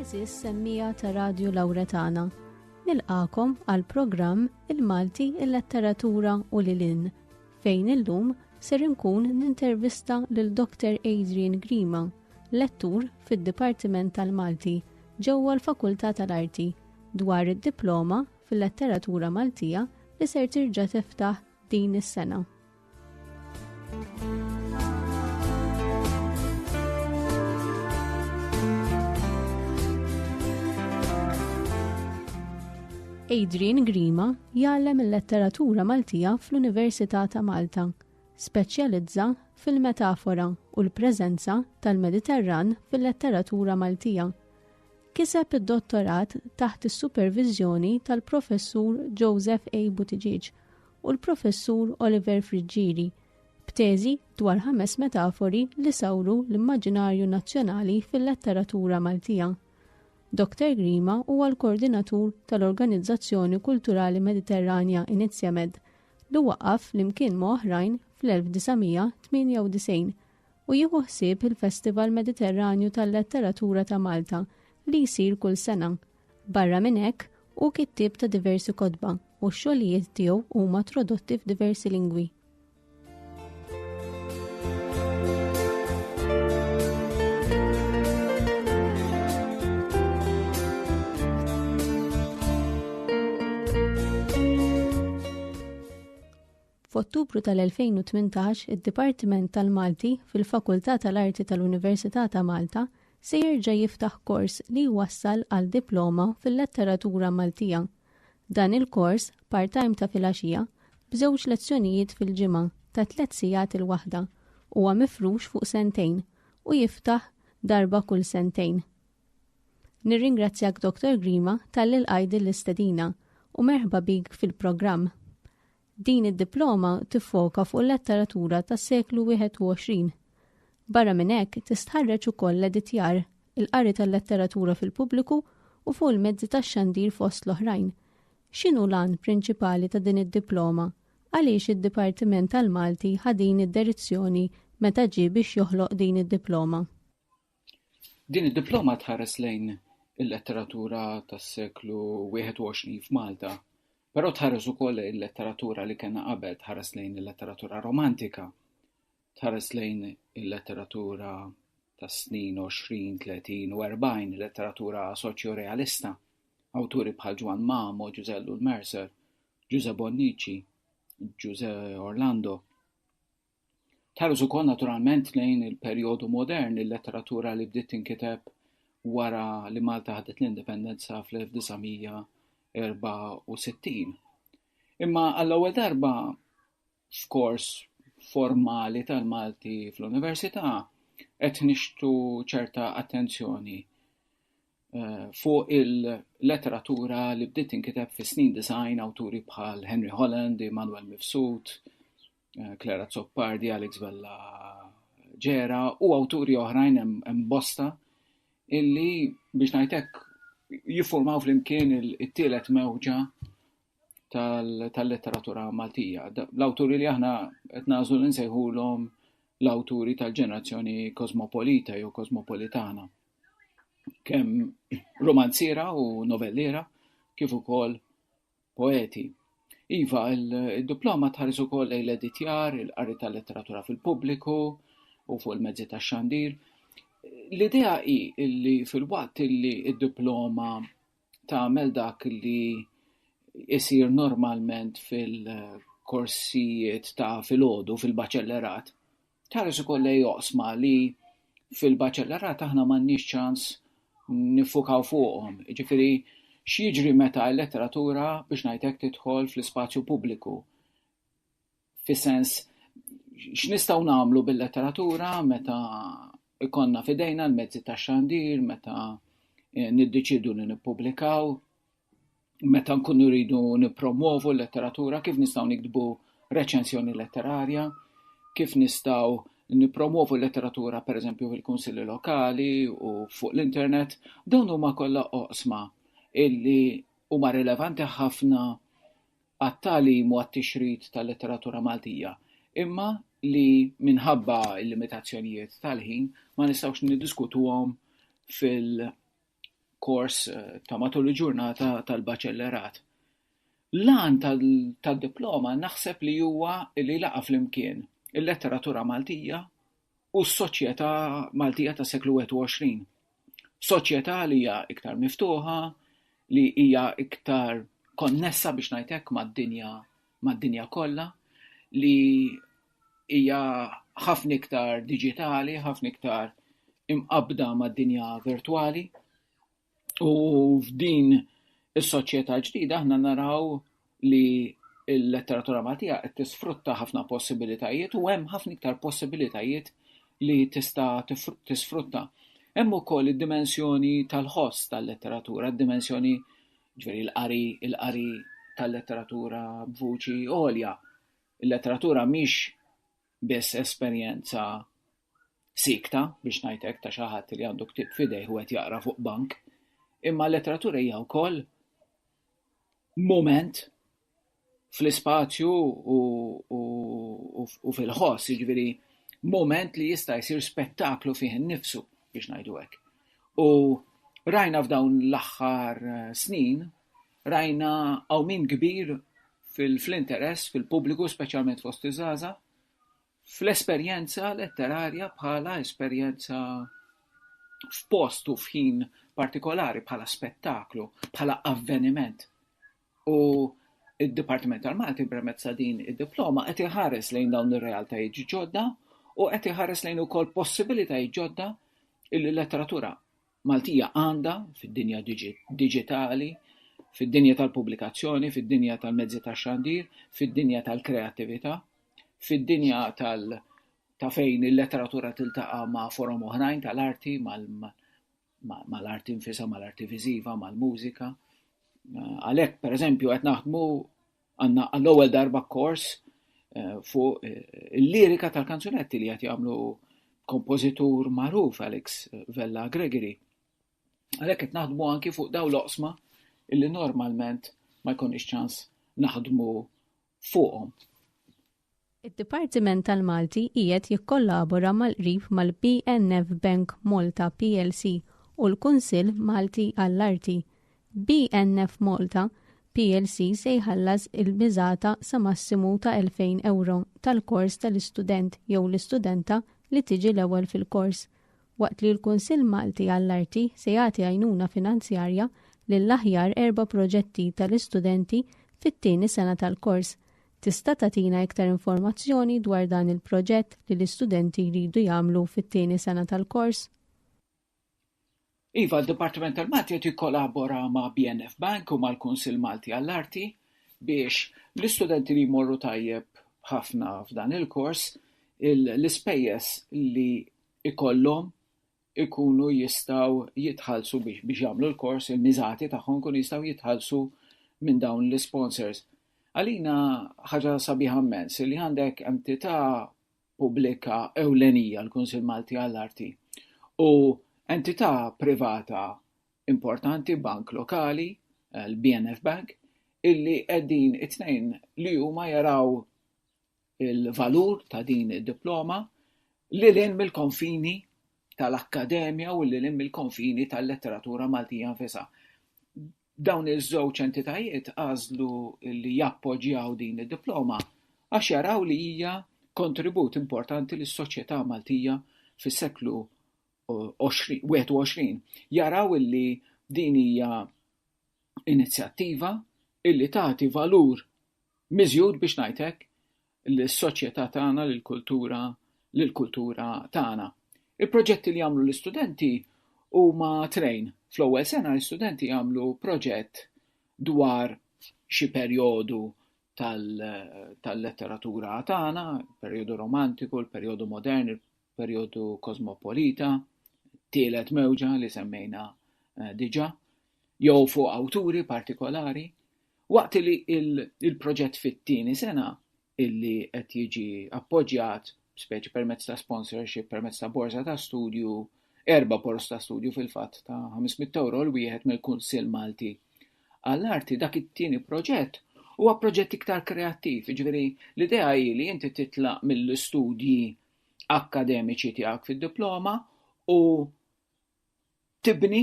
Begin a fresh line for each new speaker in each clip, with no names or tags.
Eżis semmija ta' Radju Lawretana, nilqakom għal programm Il-Malti il-Letteratura u Lilin, fejn illum ser inkun nintervista lil Dr. Adrian Grima, lettur fid-Dipartiment tal-Malti ġewwa l-Fakultà tal-Arti dwar id-diploma fil-letteratura Maltija li ser tirġa' tiftaħ din is-sena. Adrian Grima jgħallem il-letteratura Maltija fl-Università ta' Malta. Speċjalizza fil-metafora u l-preżenza tal-Mediterran fil-letteratura Maltija. Kiseb id-dottorat taħt is-supervizjoni tal-professur Joseph A. Buttigieg u l-Professur Oliver Friggieri b'teżi dwar ħames metafori li sawru l-immaġinarju nazzjonali fil-letteratura Maltija. Dr. Grima huwa l-koordinatur tal-Organizzazzjoni Kulturali Mediterranja Inizjamed li waqaf flimkien ma' oħrajn fl-1998 u jieħu ħsieb il-Festival Mediterranju tal-Letteratura ta' Malta li jsir kull sena Barra minn hekk, hu kittieb ta' diversi kotba u x-xogħlijiet tiegħu huma trodotti f'diversi lingwi. F'Ottubru tal-2018 id-Dipartiment tal-Malti fil-Fakultà tal-Arti tal-Università ta' Malta se jerġa' jiftaħ kors li jwassal għal diploma fil-letteratura Maltija. Dan il-kors, part-time ta' filgħaxija, b'żewġ lezzjonijiet fil-ġimgħa ta' tliet sigħat il-waħda, huwa mifrux fuq sentejn u jiftaħ darba kull sentejn. Nirringrazzjak Dottor Grima talli lqajt din l-istedina u merħba bik fil-programm. Din id-diploma tiffoka fuq il-letteratura tas-seklu 21. Barra minn hekk, tistħarreġ ukoll l-editjar, il-qari tal-letteratura fil-pubbliku u fuq il-mezzi tax-xandir fost l-oħrajn. X'inhu l-għan prinċipali ta' din id-diploma? Għaliex id-Dipartiment tal-Malti ħa din id-derizzjoni meta ġie biex joħloq din id-diploma?
Din id-diploma tħares lejn il-letteratura tas-seklu 21 f'Malta, però tħares ukoll lejn il-letteratura li kellna qabel, tħares lejn il-letteratura romantika, tħares lejn il-letteratura tas-snin 20, 30 u 40, il-letteratura soċjorealista, awturi bħal Ġwann Mamo, Ġużè Llul Mercer, Ġużè Bonnici, Ġużè Orlando. Tħares ukoll naturalment lejn il-perjodu modern, il-letteratura li bdiet tinkiteb wara li Malta ħadet l-indipendenza fl-1964. Imma għall-ewwel darba f'kors formali tal-Malti fl-università qed nixħtu ċerta attenzjoni eh, fuq il-letteratura li bdiet tinkiteb fis-snin disgħin awturi bħal Henry Holland, Immanuel Mifsud, eh, Clara Zoppardi, Alex Vella Ġera u awturi oħrajn hemm bosta illi biex ngħidlek jiffurmaw flimkien it-tielet mewġa tal-letteratura Maltija. L-awturi li aħna qed nażlu li nsejħulhom l-awturi tal-ġenerazzjoni kosmopolita jew kosmopolitana. Kemm romanziera u novelliera kif ukoll poeti. Iva, il-diploma tħares ukoll lejn l-editjar, il-qari tal-letteratura fil-pubbliku u fuq il-mezzi tax-xandir. L-idea hi li fil-waqt li d-diploma tagħmel dak li isir normalment fil-korsijiet ta' filgħodu fil-baċellerat, Tħares ukoll lejn oqsma li fil-baċellerat aħna m'għandniex ċans niffukaw fuqhom, jiġifieri x'jiġri meta l-letteratura biex ngħid hekk tidħol fl-ispazju pubbliku, fis-sens x'nistgħu nagħmlu bil-letteratura meta jkollna f'idejna l-mezzi tax-xandir, meta niddeċiedu li nippubblikaw, meta nkunu rridu nippromwovu l-letteratura, kif nistgħu nikdbu reċensjoni letterarja, kif nistgħu nippromwovu l-letteratura pereżempju fil-kunsilli lokali u fuq l-internet, dawn huma kollha oqsma illi huma rilevanti ħafna għat-tagħlim u għat-tixrid tal-letteratura Maltija, imma li minħabba l-limitazzjonijiet tal-ħin ma nistgħux niddiskutuhom fil- kors ta' matul il-ġurnata tal-baċellerat. L-għan tad-diploma naħseb li huwa li laqa' flimkien il-letteratura Maltija u s-soċjetà Maltija tas-seklu 21. Soċjetà li hija iktar miftuħa, li hija iktar konnessa biex ngħid hekk mad-dinja mad-dinja kollha, li hija ħafna iktar diġitali, ħafna iktar imqabbda mad-dinja virtwali. U f'din is-soċjetà ġdida aħna naraw li l-letteratura Maltija qed tisfrutta ħafna possibilitajiet u hemm ħafna iktar possibilitajiet li tista' tisfrutta. Hemm ukoll id-dimensjoni tal-ħoss tal-letteratura, d-dimensjoni ġveri l-qari, il-qari tal-letteratura b'vuċi għolja. Il-letteratura mhix biss esperjenza siekta, biex ngħid hekk, ta' xi ħadd li għandu ktieb f'idejh u qed jaqra fuq bank, imma l-letteratura hija wkoll mument fl-ispazju u fil-ħoss, jiġifieri mument li jista' jsir spettaklu fih innifsu, biex ngħidu hekk. U rajna f'dawn l-aħħar snin, Rajna għawmien kbir fl-interess fil-pubbliku, speċjalment fost iż-żgħażagħ, fl-esperjenza letterarja bħala esperjenza f'post u f'ħin partikolari bħala spettaklu, bħala avveniment. U id-Dipartiment tal-Malti permezz din id-diploma qed iħares lejn dawn ir-realtajiet ġodda u qed iħares lejn ukoll possibilitajiet ġodda illi letteratura Maltija għandha, fid-dinja diġitali, fid-dinja tal-pubblikazzjoni, fid-dinja tal-mezzi tax-xandir, fid-dinja tal-kreattività, fid-dinja tal- ta' fejn il-letteratura tiltaqa' ma' forom oħrajn tal-arti, mal-arti nfisha, mal-arti viżiva, mal-mużika. Għalhekk, pereżempju, qed naħdmu Għandna għall-ewwel darba kors eh, fuq eh, il-lirika tal-kanzunetti li qed jagħmlu kompożitur magħruf Alex Vella Gregory. Għalhekk qed naħdmu anki fuq daw l-oqsma illi normalment ma jkunx ċans naħdmu fuqhom. Id-Dipartiment
tal-Malti qiegħed jikkollabora mal-qrib mal-BNF Bank Malta plc u l-Kunsill Malti għall-Arti. BNF Malta plc se jħallas il-miżata sa massimu ta' elfejn ewro tal-kors tal-istudent jew l-istudenta li tiġi l-ewwel fil-kors, waqt li l-Kunsill Malti għall-Arti se jagħti għajnuna finanzjarja lill-aħjar erba' proġetti tal-istudenti fit-tieni sena tal-kors Tista' tagħtina iktar informazzjoni dwar dan il-proġett li l-istudenti jridu jagħmlu fit-tieni sena tal-kors?
Iva, d-Dipartiment tal-Malti qed jikkolabora ma' BNF Bank u mal-Kunsill Malti għall-Arti biex l-istudenti li jmorru tajjeb ħafna f'dan il-kors, l-ispejjeż li jkollhom ikunu jistgħu jitħallsu biex jagħmlu l-kors, il-miżati tagħhom ikunu jistgħu jitħallsu minn dawn l-isponsors. Għalina ħaġa sabiħa mmens li għandek entità pubblika ewlenija l-Kunsil Malti għall-Arti u entità privata importanti bank lokali, eh, l-BNF Bank, illi qegħdin it-tnejn li huma jaraw il-valur ta' din id-diploma lil hinn mill-konfini tal-akkademja u lil hinn mill-konfini tal-letteratura Maltija nfisha. Dawn iż-żewġ entitajiet għażlu li jappoġġjaw din id-diploma għax jaraw li hija kontribut importanti lis-soċjetà Maltija fis-seklu 21. Jaraw li din hija inizjattiva li tagħti valur miżjud biex ngħid hekk lis-soċjetà tagħna, lill-kultura, lill-kultura tagħna. Il-proġetti li jagħmlu l-istudenti huma trejn. Fl-ewwel sena l-istudenti jagħmlu proġett dwar xi perjodu tal-letteratura tagħna, il-perjodu romantiku, il-perjodu modern, perjodu kosmopolita, tielet mewġa li semmejna eh, diġa, jew fuq awturi partikolari, waqt li il-proġett fit-tieni sena illi qed jiġi appoġġjat speċi permezz ta' sponsorship, permezz ta' borza ta' studju, erba borza ta' studju fil-fatt ta' 500 euro l-wieħed mill-Kunsill Malti għall-arti dak it-tieni proġett huwa proġett iktar kreattiv, ġveri l-idea hi li inti titlaq mill-istudji akkademiċi tiegħek fid-diploma u tibni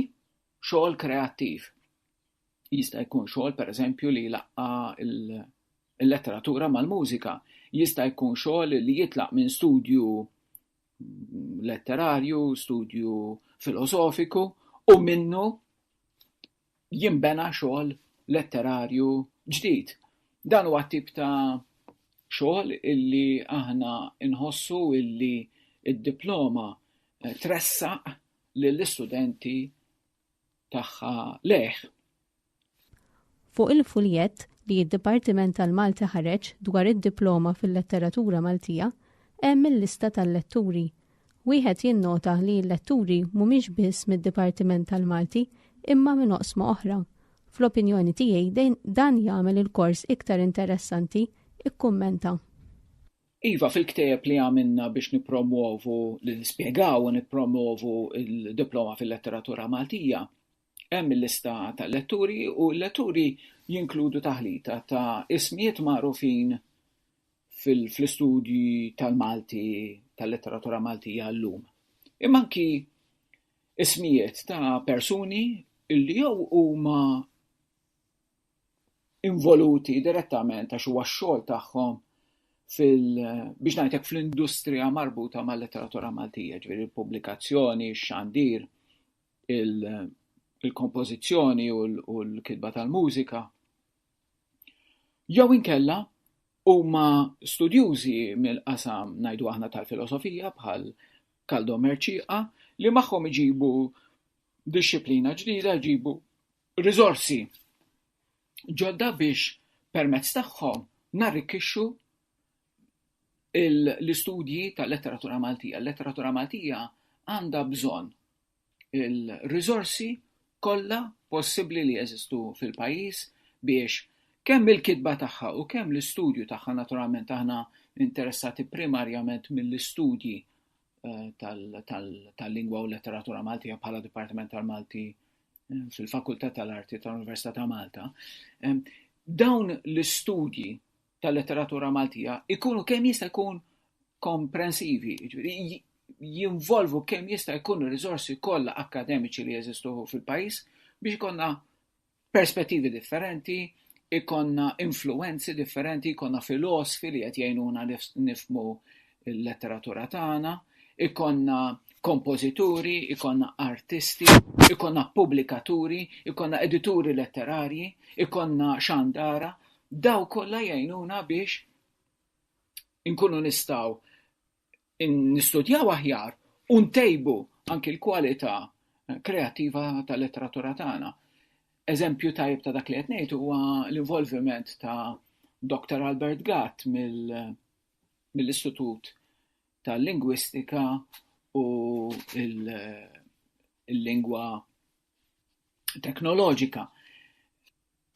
xogħol kreattiv. Jista' jkun xogħol pereżempju li laqqa l-letteratura mal-mużika, jista' jkun xogħol li jitlaq minn studju letterarju, studju filosofiku u minnu jinbena xogħol letterarju ġdid. Dan huwa t-tip ta' xogħol illi aħna nħossu illi d-diploma tressaq lill-istudenti tagħha lejh.
Fuq il-fuljett li d-Dipartiment tal-Malti ħareġ dwar id-Diploma fil-Letteratura Maltija hemm il-lista tal-letturi Wieħed jinnota li l-letturi mhumiex biss mid-Dipartiment tal-Malti imma minn oqsma oħra. Fl-opinjoni tiegħi dan jagħmel il-kors iktar interessanti, ikkummenta.
Iva, fil-ktieb li għamilna biex nippromwovu, li nispjegaw u nippromwovu l-Diploma fil-Letteratura Maltija, Hemm il-lista tal-letturi u l-letturi jinkludu taħlita ta' ismijiet magħrufin fl-istudji tal-Malti, tal-letteratura Maltija llum, imma anki ismijiet ta' persuni li jew huma involuti direttament għax huwa x-xogħol tagħhom fil-, biex ngħid hekk, fl-industrija marbuta mal-letteratura Maltija, jiġifieri l-pubblikazzjoni, x-xandir, il-kompożizzjoni u l-kitba tal-mużika, jew inkella huma studjużi mill-qasam ngħidu aħna tal-filosofija bħal Kaldo Merċieqa li magħhom iġibu dixxiplina ġdida, jġibu riżorsi ġodda biex permezz tagħhom narrikkixxu l-istudji tal-letteratura Maltija. Il-letteratura Maltija għandha bżonn il-riżorsi kollha possibbli li jeżistu fil-pajjiż biex kemm il-kitba tagħha u kemm l-istudju tagħha naturalment aħna interessati primarjament mill-istudji eh, tal-lingwa u letteratura Maltija bħala Dipartiment tal-Malti eh, fil-Fakultà tal-Arti tal-Università ta' Malta. Dawn l-istudji tal-letteratura Maltija jkunu kemm jista' jkun komprensivi, jinvolvu kemm jista' jkun ir-riżorsi kollha akkademiċi li jeżistu fil-pajjiż biex ikollna perspettivi differenti, ikollna influwenzi differenti, ikollna filosfi li qed jgħinuna nifhmu l-letteratura tagħna, ikollna kompożituri, ikollna artisti, ikollna pubblikaturi, ikollna edituri letterarji, ikollna xandara, Dawn kollha jgħinuna biex inkunu nistgħu nistudjaw aħjar u ntejbu anki l-kwalità kreattiva tal-letteratura tagħna. Eżempju tajjeb ta' dak li qed ngħid huwa l-involviment ta' Doctor Albert Gatt mill-Istitut tal-Lingwistika u l-Lingwa teknoloġika.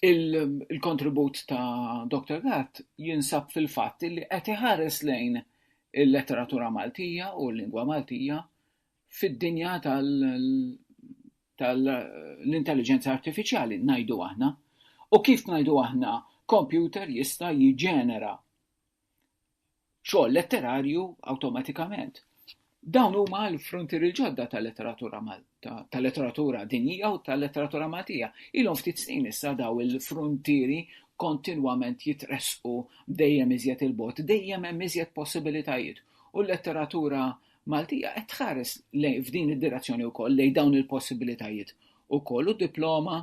Il-kontribut il ta' Dr. Gatt jinsab fil-fatt li qed iħares lejn il-letteratura Maltija u l-lingwa Maltija fid-dinja tal-intelligenza tal artifiċjali, najdu aħna. U kif najdu aħna, kompjuter jista' jiġenera xogħol letterarju awtomatikament. Dawn huma l-frontier il-ġodda tal-letteratura Malta, tal-letteratura dinjija u tal-letteratura Maltija. Ilhom ftit snin issa daw il-frontieri kontinwament jitresqu dejjem iżjed il-bot, dejjem hemm iżjed possibilitajiet. U l-letteratura Maltija qed tħares lejn f'din id-direzzjoni wkoll lejn dawn il-possibilitajiet ukoll u diploma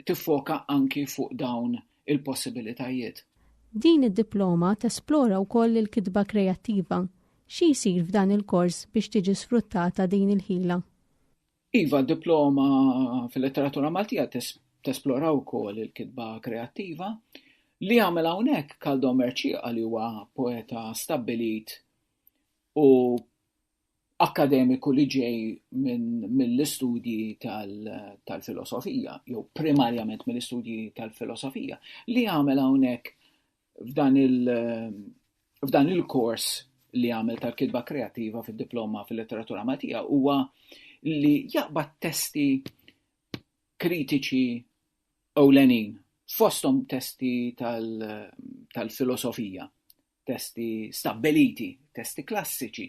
tiffoka anki fuq dawn il-possibilitajiet.
Din id-diploma
tesplora
wkoll il-kitba kreattiva. Xi jsir f'dan il-kors biex tiġi sfruttata din il-ħila? Iva,
d-diploma fil-Letteratura Maltija tesplora wkoll il-kitba kreattiva. Li jagħmel hawnhekk Kaldo Mercieqa li huwa poeta stabbilit u akkademiku li ġej mill-istudji tal-filosofija, jew primarjament mill-istudji tal-filosofija, li għamel hawnhekk f'dan il-kors li għamel tal-kitba kreattiva fid-diploma fil-letteratura Maltija huwa li jaqbad testi kritiċi ewlenin, fosthom testi tal-filosofija, testi stabbiliti, testi klassiċi,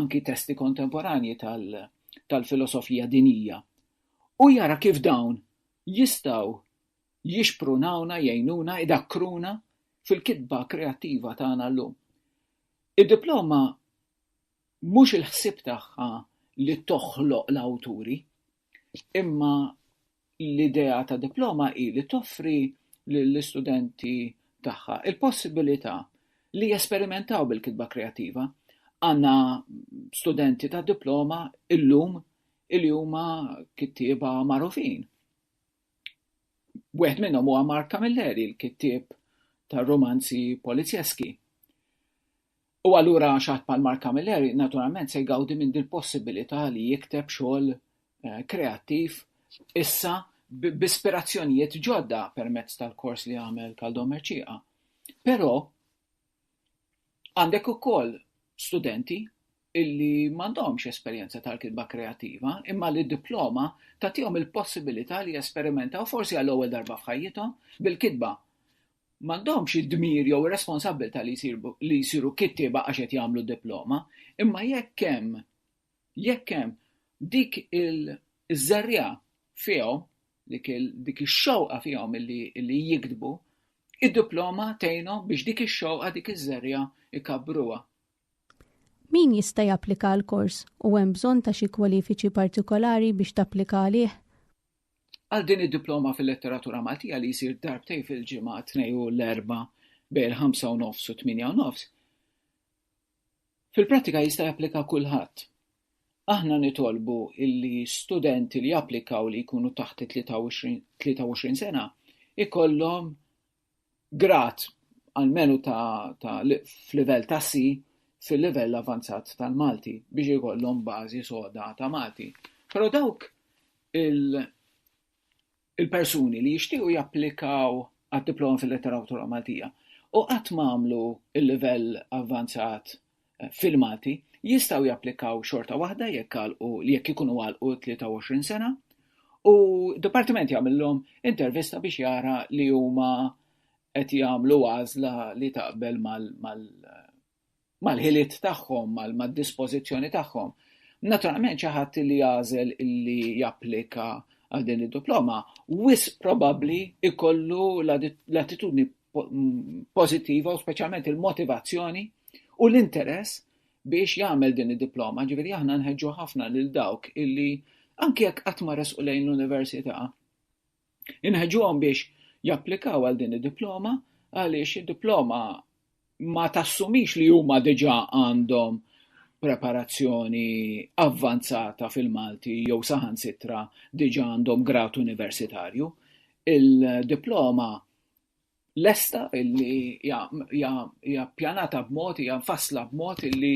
anki testi kontemporanji tal-filosofija dinjija, u jara kif dawn jistgħu jixprunawna, jgħinuna, idakkruna fil-kitba kreattiva tagħna llum. Id-diploma mhux il-ħsieb tagħha li toħloq l-awturi, imma L-idea ta' diploma hi li toffri lill-istudenti tagħha l-possibilità li jesperimentaw bil-kitba kreattiva. Għandna studenti ta' diploma illum li huma kittieba magħrufin. Wieħed minnhom huwa Mark Camilleri, l-kittieb tar-rumanzi polizzjeski. U allura xi ħadd bħal Mark Camilleri naturalment se jgawdi minn dil-possibilità li jikteb xogħol kreattiv issa b'ispirazzjonijiet ġodda permezz tal-kors li għamel Kaldo Mercieqa. Però għandek ukoll studenti illi m'għandhomx esperjenza tal-kitba kreattiva, imma li diploma tagħtihom il-possibilità li jesperimentaw forsi għall-ewwel darba f'ħajjithom bil-kitba. m'għandhomx id-dmir jew ir-responsabbiltà li jsiru kittieba għax qed jagħmlu diploma, imma jekk hemm jekk hemm dik iż-żerriegħa fihom, dik ix-xewqa fihom li jiktbu, id-diploma tgħinhom biex dik ix-xewqa, dik iż-żerriegħa jkabbruha.
Min jista' japplika għall-kors u hemm bżonn ta' xi kwalifiċi partikolari biex tapplika għalih? Għal
din id-Diploma fil-Letteratura Maltija li jsir darbtejn fil-ġimgħa tnej u l-Erbgħa bejn il-ħamsa u nofs u t-tmienja u nofs, fil-prattika jista' japplika kulħadd. Aħna nitolbu illi studenti li japplikaw li jkunu taħt it-23 sena ikollhom grad almenu ta' ta' f'livell ta' C fil-livell avanzat tal-Malti biex ikollhom bażi soda ta' Malti. Però dawk il il-persuni li jixtiequ japplikaw għad-Diploma fil-Letteratura Maltija u qatt m'għamlu l-livell avvanzat filmati jistgħu japplikaw xorta waħda jekk għalqu jekk ikunu għalqu 23 sena u d-dipartiment jagħmilhom intervista biex jara li huma qed jagħmlu għażla li taqbel mal-ħiliet tagħhom, mad-dispożizzjoni tagħhom. Naturalment xi ħadd li jagħżel li japplika għal din id-diploma, wis probabbli ikollu l-attitudni pożittiva u speċjalment il-motivazzjoni u l-interess biex jagħmel din id-diploma. Ġifieri aħna nħeġġu ħafna lil dawk illi anke jekk qatt ma resqu lejn l-università. Inħeġġuhom biex japplikaw għal din id-diploma għaliex id-diploma ma tassumix li huma diġà għandhom preparazzjoni avvanzata fil-Malti jew saħansitra diġà għandhom grad universitarju. Il-diploma lesta illi hija ppjanata b'mod, hija mfassla b'mod illi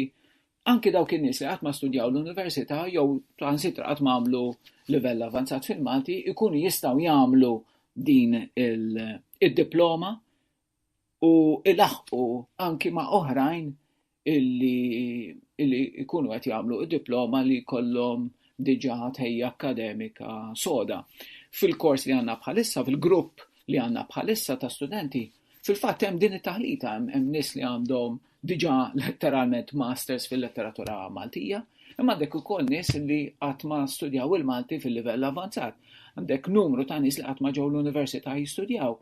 anki dawk in-nies li qatt ma studjaw l-università jew transitra qatt ma għamlu livell avanzat fil-Malti jkunu jistgħu jagħmlu din id-diploma u ilaħqu anki ma' oħrajn illi illi jkunu qed jagħmlu diploma li jkollhom diġà tħejja akkademika soda. Fil-kors li għandna bħalissa, fil-grupp li għandna bħalissa ta' studenti, fil-fatt hemm din it-taħlita hemm hemm nies li għandhom diġà letteralment masters fil-letteratura Maltija, imma għandek ukoll nies li qatt ma studjaw il-Malti fil-livell avvanzat. Għandek numru ta' nies li qatt ma ġew l-università jistudjaw.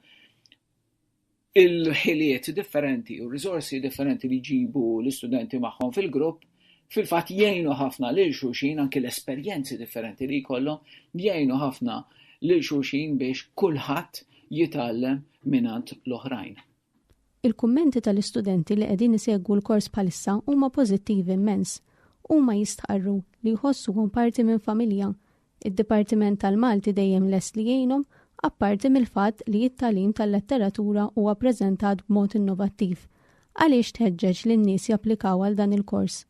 il-ħiliet differenti u r-riżorsi differenti li jġibu l-istudenti magħhom fil-grupp fil-fatt jgħinu ħafna lil xulxin anki l-esperjenzi differenti li jkollhom jgħinu ħafna lil xulxin biex kulħadd jitgħallem mingħand l-oħrajn.
Il-kummenti tal-istudenti li qegħdin isegwu l-kors bħalissa huma pożittivi immens. Huma jistqarru li jħossuhom parti minn familja Id-Dipartiment tal-Malti dejjem lest li jgħinhom, apparti mill-fatt li t-tagħlim tal-letteratura huwa ppreżentat b'mod innovattiv. Għaliex tħeġġeġ lin-nies japplikaw għal dan il-kors?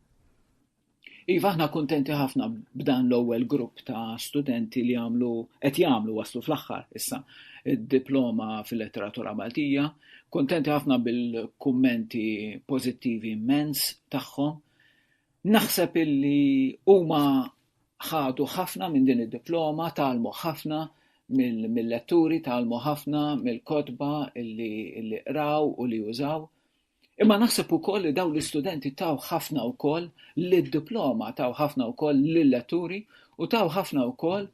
Iva, aħna kuntenti ħafna b'dan l-ewwel grupp ta' studenti li għamlu qed jagħmlu waslu fl-aħħar issa id-diploma fil-letteratura Maltija. Kuntenti ħafna bil-kummenti pożittivi immens tagħhom. Naħseb illi huma ħadu ħafna minn din id-diploma, tgħallmu ħafna mill-letturi, tgħallmu ħafna mill-kotba li qraw u li użaw. Imma naħseb ukoll li dawn l-istudenti taw ħafna wkoll lid-diploma, taw ħafna wkoll lill-letturi u taw ħafna wkoll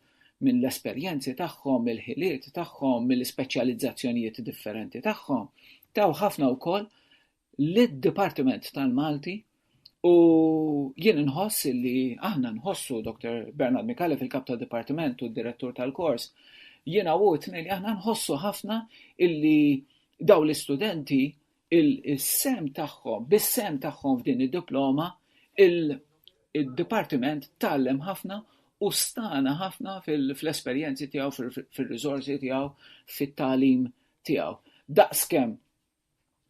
minn l-esperjenzi tagħhom, mill-ħiliet tagħhom, mill-ispeċjalizzazzjonijiet differenti tagħhom, taw ħafna wkoll lid-Dipartiment tal-Malti u jien inħoss li aħna nħossu Dr. Bernard Micallef il-Kap tad-Dipartiment u d-Direttur tal-kors jiena u tnejn li aħna nħossu ħafna illi daw l-istudenti il-sem tagħhom bis-sem tagħhom f'din id-diploma il id-Dipartiment tgħallem ħafna u stana ħafna fl-esperjenzi tiegħu, fir-riżorsi tiegħu, fit-tagħlim tiegħu. Daqskemm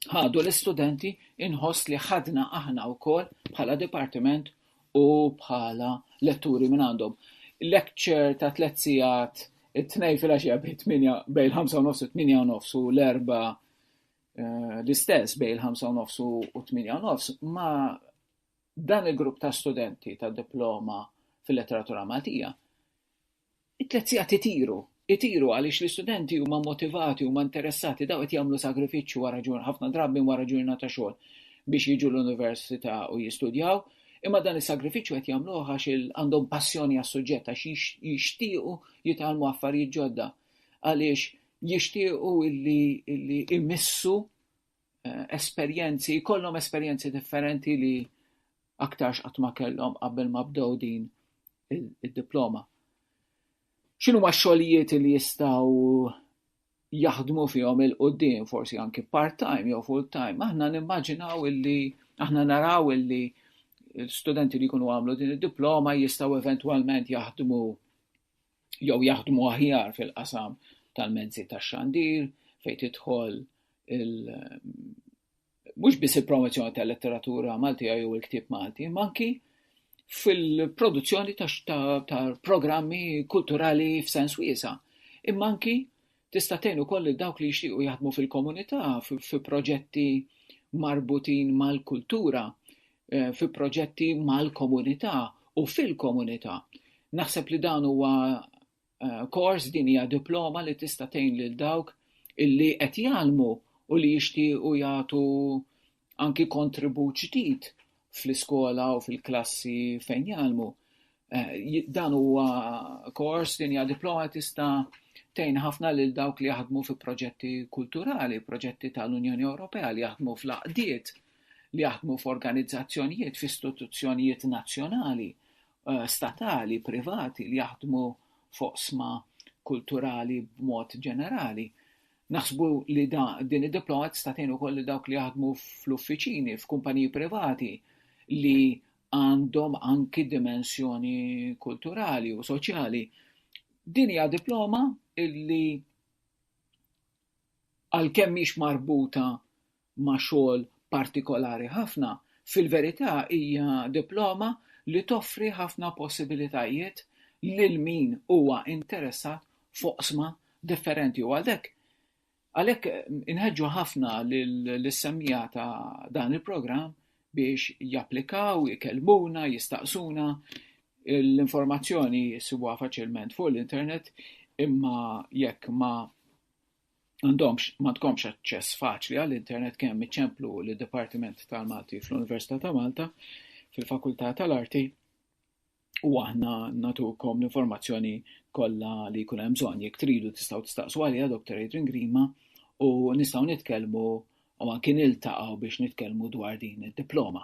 ħadu l-istudenti inħoss li ħadna aħna wkoll bħala dipartiment u bħala letturi minn għandhom. Lecture ta' tliet sigħat it-tnej fil-għaxija bejn il-ħamsa u nofs u t-tminja u nofs u l-erba eh, l-istess bejn il-ħamsa u nofs u t-tminja u nofs ma dan il-grupp ta' studenti ta' diploma fil-letteratura Maltija It-tliet sigħat itiru. Itiru għaliex l-istudenti huma motivati, huma interessati, dawn qed jagħmlu sagrifiċċju wara ġur, ħafna drabi wara ġurnata xogħol biex jiġu l-università u jistudjaw, imma dan is-sagrifiċċju qed jagħmluh għax għandhom passjoni għas-suġġett, għax jixtiequ jitgħallmu affarijiet ġodda, għaliex jixtiequ illi, illi imissu eh, esperjenzi, jkollhom esperjenzi differenti li aktar x'qatt ma kellhom qabel ma bdew din id-diploma. X'inhuma x-xogħlijiet li jistgħu jaħdmu fihom il-qudiem, forsi anki part-time jew full-time, aħna nimmaġinaw illi, aħna naraw illi studenti li jkunu għamlu din id-diploma jistaw eventualment jaħdmu jew jaħdmu aħjar fil-qasam tal-mezzi tax-xandir fejn tidħol mhux biss il-promozzjoni tal-letteratura Maltija jew il-ktieb Malti, ma anki fil-produzzjoni ta' programmi kulturali f'sens wiesa, imma anki tista' tgħin ukoll lil dawk li jixtiequ jaħdmu fil-komunità fi proġetti marbutin mal-kultura, eh, fi proġetti mal-komunità u fil-komunità. Naħseb li dan huwa eh, kors din hija diploma li tista' tgħin lil dawk illi qed jgħallmu u li jixtiequ jagħtu anki kontribut ġdid fl-iskola u fil-klassi fejn jgħallmu. Eh, dan huwa kors din hija diploma tista' tejn ħafna lil dawk li jaħdmu fi proġetti kulturali, proġetti tal-Unjoni Ewropea li jaħdmu fl-aqdiet, li jaħdmu f'organizzazzjonijiet, f'istituzzjonijiet nazzjonali statali, privati li jaħdmu f'oqsma kulturali b'mod ġenerali. Naħsbu li din id-diploma tista' tgħin ukoll lil dawk li jaħdmu fl-uffiċini, f'kumpaniji privati li għandhom anki dimensjoni kulturali u soċjali. Din hija diploma li għalkemm mhix marbuta ma' xogħol partikolari ħafna, fil-verità hija diploma li toffri ħafna possibilitajiet lil min huwa interessat f'oqsma differenti u għaldhekk għalhekk inħeġġu ħafna lis-semmiegħa ta' dan il-programm biex japplikaw, ikellmuna, jistaqsuna, l-informazzjoni jsibuha faċilment fuq l-internet imma jekk ma M'għandhomx, m'għandkomx aċċess faċli għall-internet kemm iċ-Ċemplu u l-Dipartiment tal-Malti fl-Università ta' Malta fil-Fakultà tal-Arti u aħna natukom l-informazzjoni kollha li jkun hemm bżonn. Jekk tridu tistgħu tistaqsu għaliha Dr. Adrian Grima u nistgħu nitkellmu u anki niltaqgħu biex nitkellmu dwar din id-diploma.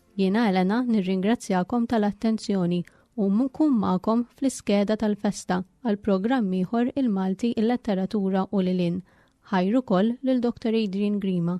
Jiena Elena nirringrazzjakom tal-attenzjoni u nkun magħkom fl-iskeda tal-festa għal programm ieħor il-Malti il-letteratura u lil hinn. Ħajr ukoll lil Dr. Adrian Grima.